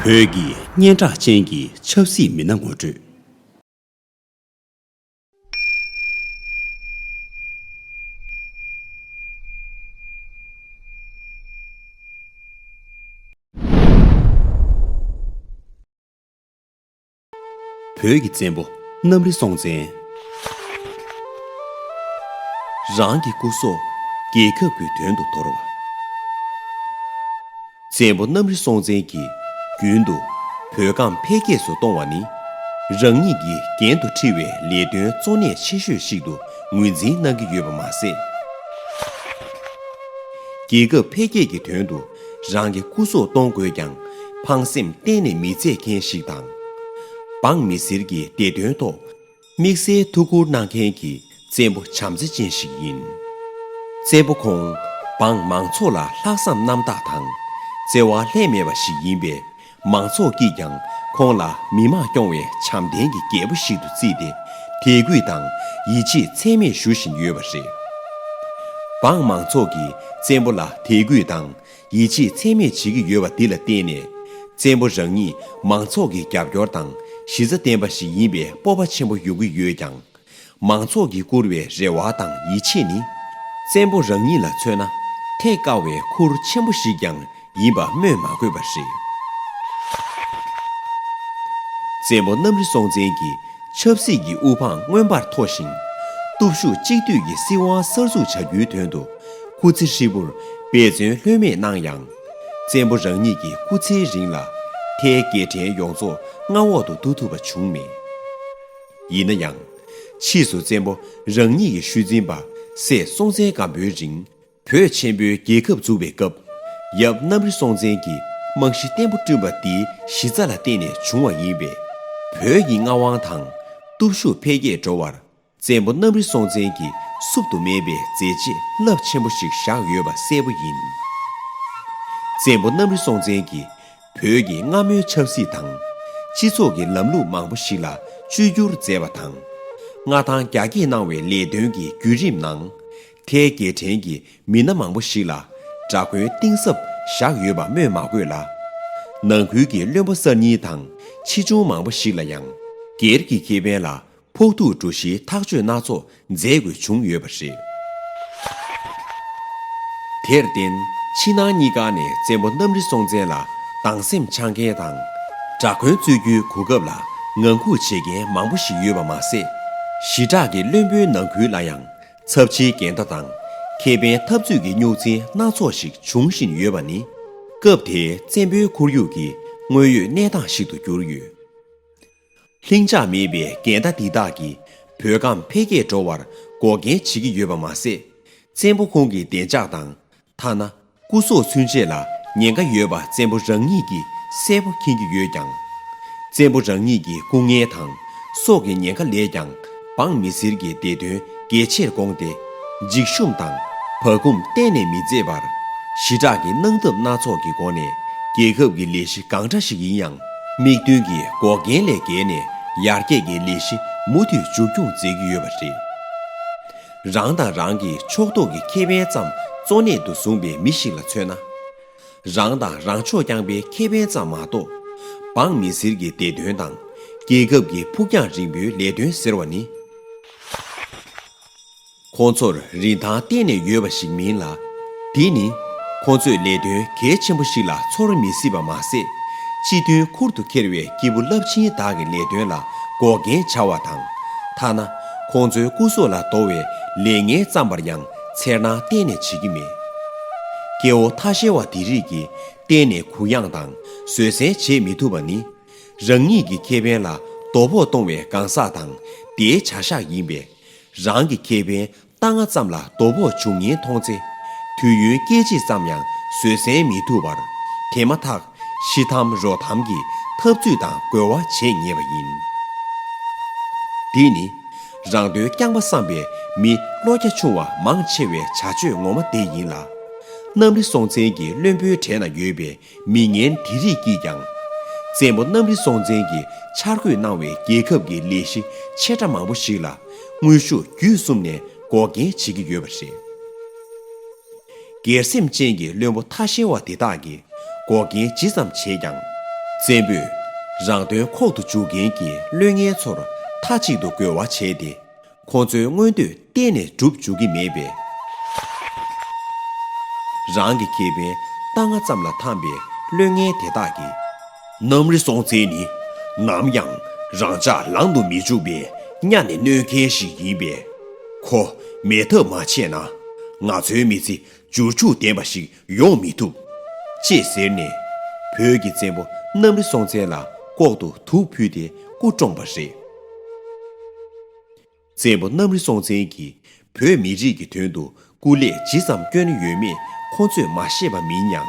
བོད་ཀྱི་སྙན་གྲགས་ཅན་གྱི་ཆབ་སྲིད་མི་སྣ་ངོ་སྤྲོད། བོད་ཀྱི་བཙན་པོ་གནམ་རི་སྲོང་བཙན། རང་གི་སྐུ་སྲོག་རྒྱལ་ཁབ་ཀྱི་དོན་དུ་དོར་བ། བཙན་པོ་གནམ་རི་སྲོང་བཙན་གྱིས་རྒྱུན་དུ་བོད་ཁམས་འཕེལ་རྒྱས་སུ་གཏོང་བ་ནི་རང་ཉིད་ཀྱི་འགན་དུ་འཁྲི་བའི་ལས་དོན་གཙོ་གནད་ཆེ་ཤོས་ཤིག་ཏུ་ངོས་འཛིན་གནང་གི་ཡོད་པ་མ་ཟད། རྒྱལ་ཁབ་འཕེལ་རྒྱས་ཀྱི་དོན་དུ་རང་གི་སྐུ་སྲོག་གཏོང་དགོས་ཀྱང་ཕངས་སེམས་གཏན་ནས་མི་བརྩད་མཁན་ཞིག་དང། འབངས་མི་སེར་གྱི་བདེ་དོན་ཐོག་དམིགས་བསལ་ཐུགས་ཁུར་གནང་མཁན་གྱི་བཙན་པོ་བྱམས་བརྩེ་ཅན་ཞིག་ཡིན། བཙན་པོ་ཁོང་འབངས་མང་ཚོགས་ལ་ལྷག་བསམ་རྣམ་དག་དང་བརྩེ་བ་ལྷད་མེད་པ་ཞིག་ཡིན་པས་མང་ཚོགས་ཀྱིས་ཀྱང་ཁོང་ལ་མི་དམངས་སྐྱོང་བའི་བྱམས་ལྡན་གྱི་རྒྱལ་པོ་ཞིག་ཏུ་བརྩིས་ཏེ་དད་གུས་དང་ཡིད་ཆེས་ཚད་མེད་ཞུ་བཞིན་ཡོད་པ་རེད། འབངས་མང་ཚོགས་ཀྱིས་བཙན་པོ་ལ་དད་གུས་དང་ཡིད་ཆེས་ཚད་མེད་བྱེད་ཀྱི་ཡོད་པ་འདི་ལ་བརྟེན་ནས་བཙན་པོ་རང་ཉིད་མང་ཚོགས་ཀྱི་རྒྱབ་སྐྱོར་དང་གཞི་རྩ་བརྟན་པ་ཞིག་ཡིན་པའི་སྤོབས་པ་ཆེན་པོ་ཡོང་གི་ཡོད་ཀྱང། མང་ཚོགས་ཀྱིས་བཀུར་བའི་རེ་བ་དང་ཡིད་ཆེས་ནི། བཙན་པོ་རང་ཉིད་ལ་མཚོན་ན་ཐེག་དཀའ་བའི་ཁུར་ཆེན་པོ་ཞིག་ཀྱང་ཡིན་པ་སྨོས་མ་དགོས་པ་རེད། བཙན་པོ་གནམ་རི་སྲོང་བཙན་གྱིས་ཆབ་སྲིད་ཀྱི་དབུ་འཕང་མངོན་པར་མཐོ་ཞིང། སྟོབས་ཤུགས་གཅིག་བསྡུས་ཀྱི་སྲིད་དབང་གསར་འཛུགས་བྱ་རྒྱུའི་དོན་དུ་སྐུ་ཚེ་ཧྲིལ་པོར་འབད་བརྩོན་ལྷོད་མེད་གནང་ཡང། བཙན་པོ་རང་ཉིད་ཀྱི་སྐུ་ཚེའི་རིང་ལ་ཐའི་དགེ་ཕྲན་ཡོངས་རྫོགས་མངའ་འོག་ཏུ་བསྡུ་ཐུབ་པ་བྱུང་མེད། ཡིན་ན་ཡང། ཕྱིས་སུ་བཙན་པོ་རང་ཉིད་ཀྱི་ཤུལ་འཛིན་པ་སྲས་སྲོང་བཙན་སྒམ་པོའི་རིང་བོད་ཆེན་པོའི་རྒྱལ་ཁབ་འཛུགས་པའི་སྐབས། ཡབ་གནམ་རི་སྲོང་བཙན་གྱི་རྨང་གཞི་བརྟན་པོ་བསྐྲུན་པ་འདིའི་གཞི་རྩ་ལ་བརྟེན་ནས་བྱུང་བ་ཡིན་པས། བོད་ཀྱི་མངའ་དབང་དང་སྟོབས་ཤུགས་འཕེལ་རྒྱས་འགྲོ་བར་བཙན་པོ་གནམ་རི་སྲོང་བཙན་གྱི་བསུབ་ཏུ་མེད་པའི་མཛད་རྗེས་རླབས་ཆེན་པོ་ཞིག་བཞག་ཡོད་པ་གསལ་པོ་ཡིན། བཙན་པོ་གནམ་རི་སྲོང་བཙན་གྱི། བོད་ཀྱི་སྔ་མོའི་ཆབ་སྲིད་དང། སྤྱི་ཚོགས་ཀྱི་ལམ་ལུགས་མང་པོ་ཞིག་ལ་བཅོས་བསྒྱུར་མཛད་པ་དང། མངའ་ཐང་རྒྱ་བསྐྱེད་གནང་བའི་ལས་དོན་གྱི་བརྒྱུད་རིམ་ནང། ཐའི་རྒྱལ་ཕྲན་གྱི་མི་སྣ་མང་པོ་ཞིག་ལ་དགྲ་མགོན་གཏིང་ཟབ་བཞག་ཡོད་པ་སྨོས་མ་དགོས་ལ། ནང་ཁུལ་གྱི་བློན་པོ་གསར་རྙིང་དང་ཕྱིས་འབྱུང་མང་པོ་ཞིག་ལ་ཡང། སྒེར་གྱི་ཁེ་ཕན་ལ་ཕོག་ཐུག་འགྲོ་གཞིའི་ཐག་གཅོད་སྣ་ཚོགས་མཛད་དགོས་བྱུང་ཡོད་པ་རེད། དེར་བརྟེན་ཕྱི་ནང་གཉིས་ཀ་ནས་བཙན་པོ་གནམ་རི་སྲོང་བཙན་ལ་སྡང་སེམས་འཆང་མཁན་དང། དགྲ་མགོན་གཙོས་རྒྱུའི་གོ་སྐབས་ལ་ངང་སྒུག་བྱེད་མཁན་མང་པོ་ཞིག་ཡོད་པ་མ་ཟད། ཞི་དྲག་གི་བློན་པོའི་ནང་ཁུལ་ལ་ཡང་ཚབས་ཆེའི་འགལ་ཟླ་དང་ཁེ་ཕན་འཐབ་རྩོད་ཀྱི་རྙོག་འཛིང་སྣ་ཚོགས་ཤིག་འབྱུང་བཞིན་ཡོད་པ་ནི། སྐབས་དེའི་བཙན་པོའི་ཁོར་ཡུག་གི་དངོས་ཡོད་གནས་སྟངས་ཤིག་ཏུ་གྱུར་ཡོད། ལྷིང་འཇགས་མེད་པའི་འགལ་ཟླ་འདི་དག་གིས་བོད་ཁམས་འཕེལ་རྒྱས་འགྲོ་བར་འགོག་རྐྱེན་བྱེད་ཀྱི་ཡོད་པ་མ་ཟད། བཙན་པོ་ཁོང་གི་བདེ་འཇགས་དང། ཐ་ན་སྐུ་སྲོག་ཚུན་ཆད་ལ་ཉེན་ཁ་ཡོད་པ་བཙན་པོ་རང་ཉིད་ཀྱིས་གསལ་པོ་མཁྱེན་གྱི་ཡོད་ཀྱང། བཙན་པོ་རང་ཉིད་ཀྱི་སྐུ་ངལ་དང་སྲོག་གི་ཉེན་ཁ་ལས་ཀྱང་འབངས་མི་སེར་གྱི་བདེ་དོན་གལ་ཆེར་དགོངས་ཏེ། འཇིགས་ཞུམ་དང། བག་འཁུམ་གཏན་ནས་མི་མཛད་པར། ཞི་དྲག་གི་གནང་སྟབས་སྣ་ཚོགས་ཀྱི་སྒོ་ནས་རྒྱལ་ཁབ་ཀྱི་ལས་གཞི་གང་འདྲ་ཞིག་ཡིན་ཡང་དམིགས་འདུན་གྱི་འགོག་རྐྱེན་ལས་བརྒལ་ནས་ཡར་རྒྱས་ཀྱི་ལས་གཞི་མུ་མཐུད་མཇུག་སྐྱོང་མཛད་ཀྱི་ཡོད་པ་རེད། རང་དང་རང་གི་ཕྱོགས་གཏོགས་ཀྱི་ཁེ་ཕན་ཙམ་གཙོ་གནད་དུ་བཟུང་པའི་མི་ཞིག་ལ་མཚོན་ན། རང་དང་རང་ཕྱོགས་རྐྱང་པའི་ཁེ་ཕན་ཙམ་མ་གཏོགས། འབངས་མི་སེར་གྱི་བདེ་དོན་དང། རྒྱལ་ཁབ་ཀྱི་ཕུགས་རྒྱང་རིང་པོའི་ལས་དོན་ཟེར་བ་ནི། ཁོ་ཚོར་རིན་ཐང་གཏན་ནས་ཡོད་པ་ཞིག་མིན་ལ། དེ་ནི། ཁོ་ཚོས་ལས་དོན་གལ་ཆེན་པོ་ཞིག་ལ་ཚོར་མི་སྲིད་པ་མ་ཟད། སྤྱི་མཐུན་ཁུར་དུ་འཁྱེར་བའི་སྐྱེས་བུ་རླབས་ཆེན་དག་གི་ལས་དོན་ལ་འགོག་རྐྱེན་བྱ་བ་དང། ཐ་ན་ཁོང་ཚོའི་སྐུ་སྲོག་ལ་དོ་བའི་ལས་ངན་བརྩམས་པར་ཡང་འཚེར་སྣང་གཏན་ནས་བྱེད་ཀྱི་མེད། སྐྱེ་བོ་ཐ་ཤལ་བ་དེ་རིགས་ཀྱིས་གཏན་ནས་གུ་ཡངས་དང་བཟོད་བསྲན་བྱེད་མི་ཐུབ་པ་ནི། རང་ཉིད་ཀྱི་ཁེ་ཕན་ལ་དོ་ཕོག་གཏོང་བའི་གང་ཟག་དང་དེའི་བྱ་གཞག་ཡིན་པས། རང་གི་ཁེ་ཕན་རྟ་རྔ་ཙམ་ལ་དོ་ཕོག་འབྱུང་ཉེན་མཐོང་ཚེ། དུས་ཡུན་སྐད་ཅིག་ཙམ་ཡང་བཟོད་བསྲན་མི་ཐུབ་པར། དེ་མ་ཐག་ཤི་འཐམ་རོ་འཐམ་གྱི་འཐབ་རྩོད་དང་རྒོལ་བ་བྱེད་ངེས་པ་ཡིན། འདི་ནི་རང་དོན་རྐྱང་པ་བསམ་པའི་མི་བློ་རྒྱ་ཆུང་བ་མང་ཆེ་བའི་བྱ་སྤྱོད་ངོ་མ་དེ་ཡིན་ལ། གནམ་རི་སྲོང་བཙན་གྱི་བློན་པོའི་གྲས་ན་ཡོད་པའི་མི་ངན་དེ་རིགས་ཀྱིས་ཀྱང། བཙན་པོ་གནམ་རི་སྲོང་བཙན་གྱིས་འཆར་འགོད་གནང་བའི་རྒྱལ་ཁབ་ཀྱི་ལས་གཞི་ཆེ་ཕྲ་མང་པོ་ཞིག་ལ་དངོས་ཤུགས་བརྒྱུད་གསུམ་ནས་འགོག་རྐྱེན་བྱེད་ཀྱི་ཡོད་པ་རེད། སྒེར་སེམས་ཅན་གྱི་བླུན་པོ་ཐ་ཤལ་བ་དེ་དག་གིས་འགོག་རྐྱེན་ཇི་ཙམ་བྱས་ཀྱང། བཙན་པོས་རང་དོན་ཁོག་ཏུ་འཇུག་མཁན་གྱི་བླུན་ངན་ཚོར་མཐའ་གཅིག་ཏུ་རྒོལ་བ་བྱས་ཏེ། ཁོ་ཚོའི་མངོན་འདོད་གཏན་ནས་འགྲུབ་འཇུག་གི་མེད་པས། རང་གི་ཁེ་ཕན་རྟ་རྔ་ཙམ་ལ་འཐམས་པའི་བླུན་ངན་དེ་དག་གིས། གནམ་རི་སྲོང་བཙན་ནི་ནམ་ཡང་རང་ཅག་ལང་དུ་མི་འཇུག་པའི་གཉའ་ནས་གནོད་མཁན་ཞིག་ཡིན་པས། ཁོ་མེད་ཐབས་མ་ཆད་ན་ང་ཚོའི་མི་ཚེ་འབྱོར་ཕྱུག་ལྡན་པ་ཞིག་ཡོང་མི་ཐུབ། ཅེས་ཟེར་ནས་བོད་ཀྱི་བཙན་པོ་གནམ་རི་སྲོང་བཙན་ལ་ལྐོག་ཏུ་དུག་ཕུལ་ཏེ་སྐུ་བཀྲོངས་པ་རེད། བཙན་པོ་གནམ་རི་སྲོང་བཙན་གྱིས་བོད་མི་རིགས་ཀྱི་དོན་དུ་སྐུ་ལས་ཇི་ཙམ་བསྐྱོན་ཡོད་མེད་ཁོང་ཚོས་མ་ཤེས་པ་མིན་སྙམ།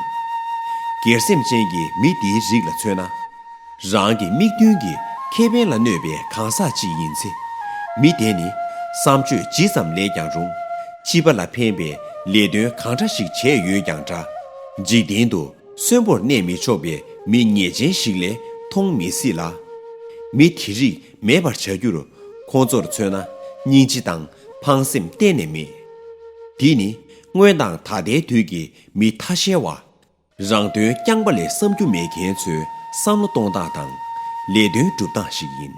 སྒེར་སེམས་ཅན་གྱི་མི་འདིའི་རིགས་ལ་མཚོན་ན། རང་གི་དམིགས་འདུན་གྱི་ཁེ་ཕན་ལ་གནོད་པའི་གང་ཟག་ཅིག་ཡིན་ཚེ། མི་དེ་ནི་བསམ་སྤྱོད་ཇི་ཙམ་ལེགས་ཀྱང་རུང། སྤྱི་པ་ལ་ཕན་པའི་ལས་དོན་གང་འདྲ་ཞིག་བྱས་ཡོད་ཀྱང་འདྲ། འཇིག་རྟེན་དུ་གསོན་པོར་གནས་མི་ཆོག་པའི་མི་ངེས་ཅན་ཞིག་ལས་མཐོང་མི་སྲིད་ལ། མི་དེ་རིགས་མེད་པར་བྱ་རྒྱུར་ཁོང་ཚོར་མཚོན་ན་སྙིང་རྗེ་དང་ཕངས་སེམས་གཏན་ནས་མེད། འདི་ནི་སྔོན་དང་ད་ལྟའི་དུས་ཀྱི་མི་ཐ་ཤལ་བ། རང་དོན་རྐྱང་པ་ལས་བསམ་རྒྱུ་མེད་མཁན་ཚོའི་བསམ་བློ་གཏོང་སྟངས་དང་ལས་དོན་སྒྲུབ་སྟངས་ཤིག་ཡིན།